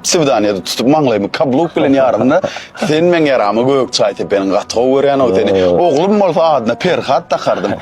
Swidaniýada tutup maňlaýymy kabluk bilen ýaranda, sen meň ýaramy gök çaý sepeniň gaty gowy görýän-ow seni. Oglum bolsa adyna Perhat dakardym.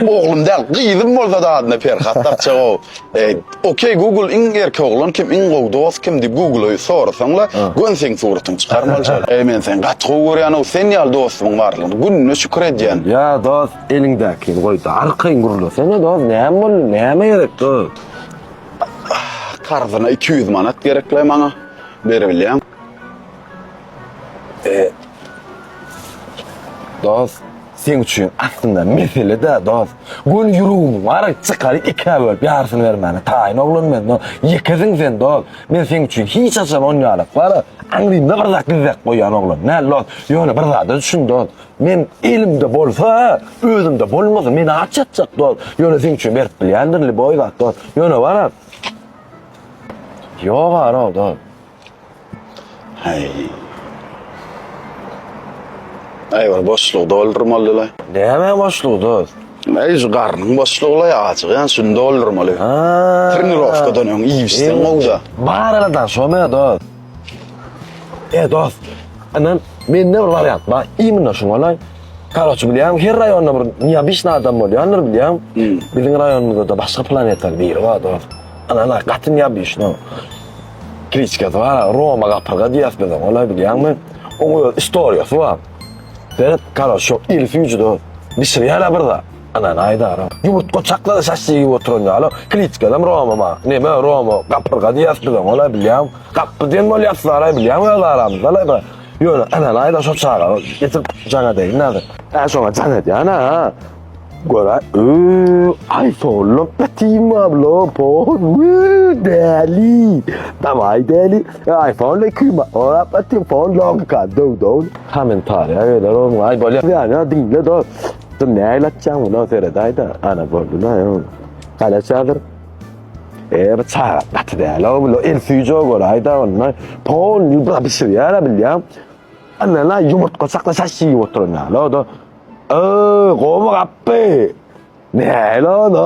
Oglum däl, gyzym bolsa-da adyna Perhat dakjak-ow. Eý, Okey Google iň erki oglan kim, iň gowy dost kim diýip Google-a sorasaň-la, göni seň suratyňy çykar maljar. Eý, men seni gaty gowy görýän-ow, sen ýaly dostumyň barlygyna gününe şükür edýän. Ýa dost, eliňdäkini goý-da, arkaýyn gürlesene dost, näme boldy, näme gerek dost? Karzyna iki ýüz manat gerekle maňa. Beribilýän. E, Dost, sen üçin aslynda mesele-de, dost. Göni ýüregimiň bar, çykaryk ikä bölüp ýarysyny bermäne taýyn oglan men, dost. Ýekesin sen, dost. Men seň üçin hiç haçan onýalyklara aňrymda bir zat gizläp goýan oglan däl, dost. Ýöne bir zada düşün, dost. Men elimde bolsa, özümde bolmasa, meni aç ýatjak dost. Ýöne seň üçin berip bilýändir liboý zat dost. Ýöne bar at. Ýok ara dost. Hey. Ay bir boşlugy doldurmalyla. Näme boşlugy dost? Ay şu garnyň boşlugyla ya açyk yani şunu doldurmaly. Ha. Trenirovkadan öň iýipsen gowda. Bar aladan şo me dost. He dost, inan, mende bir wariant bar, immina şuň golaý. Karoçi bilýäňmi, her raýonda bir neobyçnyý adam bolýandyr bilýäňmi? Hmm. Biziň raýonymyzda-da başga planetaly biri bar dost. Inan-a, gaty neobyçnyý. Kliçkasy bar, Roma gapyrga diýýäs biz oňa, golaý bilýäňmi? Oň öz istoriýasy bar. Seret, karoçi, şo iri süýji dost, bişirýär-ä bir zat. Anan Aýdara ýumurt goçaklary şaşja iýip oturan ýaly Kliçkadam Roma bar. Neme Roma gapyrga diýýäs biz oňa-laý bilýäň. Gapby diýen bolýapsyz-laý bilýäň öz aramyzda-laý bir. Ýöne Anan Aýdar şo çaga getirip jaň edeýin häzir. Hä şoňa jaň edýän-ä. Gör-aý öý aý sollap ýatyn wablo pon wöý däli. Dawaý däli. Aý fonla iki ýuma orap ýatyn fon logika döw-döw. Kommentariýa geler oňa-laý bolýar. Ýa-ýa diňle dos. Dur nägil atjaň buna seredayda ana bolduna yo. Galaçadyr. Eee bu çaga gaty däl o bu el süýjä görayda onda pol ýubra bişirýär bilýän. Ana la ýumurtga çakla şaş ýyp oturan ýaly o da. Eee gowy gapdy. Nägil o da.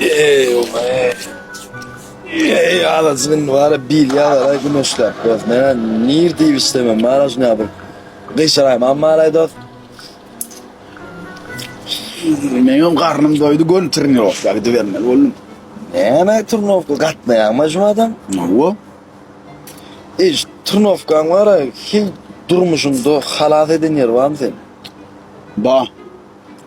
Ey oba ey. Ey alacının var ya bil ya var ya güneşler. Dost ne nir diye istemem. Mara şunu yapın. Kıyşarayım ama maray dost. Meňem garnym doýdy gön trenirovka gidibermeli boldum. Näme turnovka gatnaýaňmy şu adam? Wo. Iş turnovkaň bara hiç durmuşyňda halas eden ýeri barmy sen? Ba.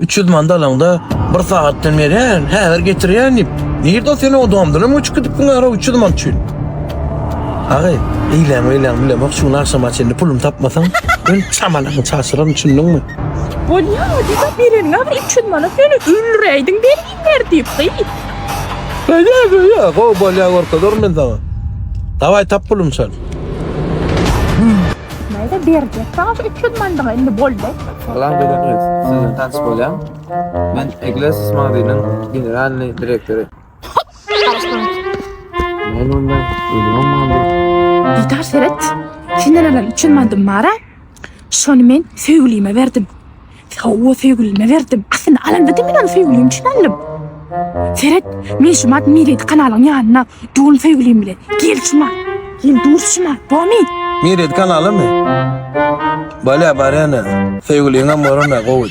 Üç ýüz manda alaňda bir sagatdan beri häzir getirýän diýip. Nirde sen o domdana göçüp gidipdiň ara üç ýüz mant üçin. Agy, eýläň meýläň bilemok şu gün agşama çenli puluny tapmasaň men çamalaňy çaşyraryn düşündiňmi? Bolýa-a diýip bereniňe bir üç ýüz manat ýöne öldüräýdiň berginler diýip gyz. Bolýa bolýa gowy bolýa görkezerin men saňa. Dawaý tap puluny çal. Näde berjek sana şu 300 mandygy indi boldy. Salam gözel gyz, siz bilen tanyş bolýan. Men Egles Magdynyň generalny direktory. Men onda ölümem mandy. Diýdar seret. Senden alan 300 mandym bar-a. Şony men söýgülime berdim. Hawa, söýgülime berdim. Aslynda alanda diňe ony söýgülim üçin aldym. Seret, men şu mart Miredi kanalyň ýanyna dul söýgülim bilen. Gel şu mart. Gel dur şu mart. Bomy? Miredi kanalymy? Bolýa, barýan-a. Söýgüliňem bolan-a, gowy.